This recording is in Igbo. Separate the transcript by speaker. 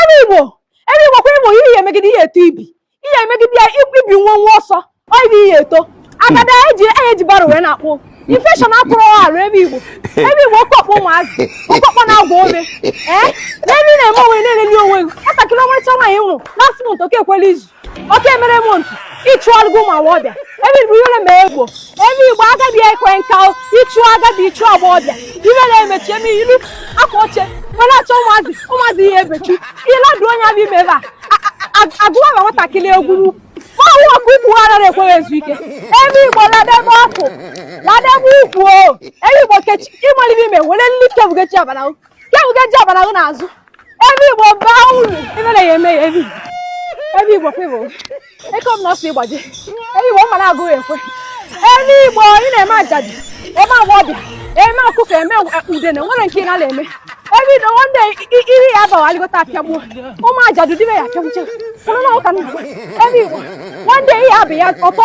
Speaker 1: ebe igbo ebe igbo kwa igbo ihe emegide ihe eto ibi ihe emegide ya ibi nwa nwa ọsọ ọ ibi ihe eto agada eji eji barrow wee na-akpụ infection atụrụ arụ ebe igbo ebe igbo oke ọkpọ ụmụazị oke ọkpọ na-agwa ome ee n'ebe ị na-eme onwe na-eleli onwe gị nwatakịrị ọmarịcha nwaanyị nwụrụ last month oke ekwela izu oke mere m ntu ịchụ ọlụgụ ụmụ agbọghọbịa ebe bụ ihere ma egbo ebe igbo agabi ekwe nka ịchụ agabi ịchụ agbọghọbịa ihere emechi eme ilu akwa oche were achọ ụmụazị ụmụazị ihe ebechi ịladụ onye abịa ime ebe a agụwa ma nwatakịrị egwuru ọnwụ ọkụ ukwu ghara ekweghị ezu ike ebe igbo ladebe ọkụ ladebe ukwu o ebe igbo kechi ịmalite ime were nlike bugechi abana ya ude ji ọbara gị n'azụ ebe igbo baa uru ebe na ya eme ya ebe ebe igbo kwebụ eke m na ọsọ ịgbaji ebe igbo mma na-agụghị ekwe ebe igbo ị na-eme ajadi eme agwa ọbịa eme akụkọ eme udene nwere nke ị na eme ebe ido nwanne iri ya abawa alịgota apịagbuo ụmụ ajadu dịbe ya apịagbuche kwụrụ na ụka nna ebe igbo nwanne ihe abụ ya ọtọ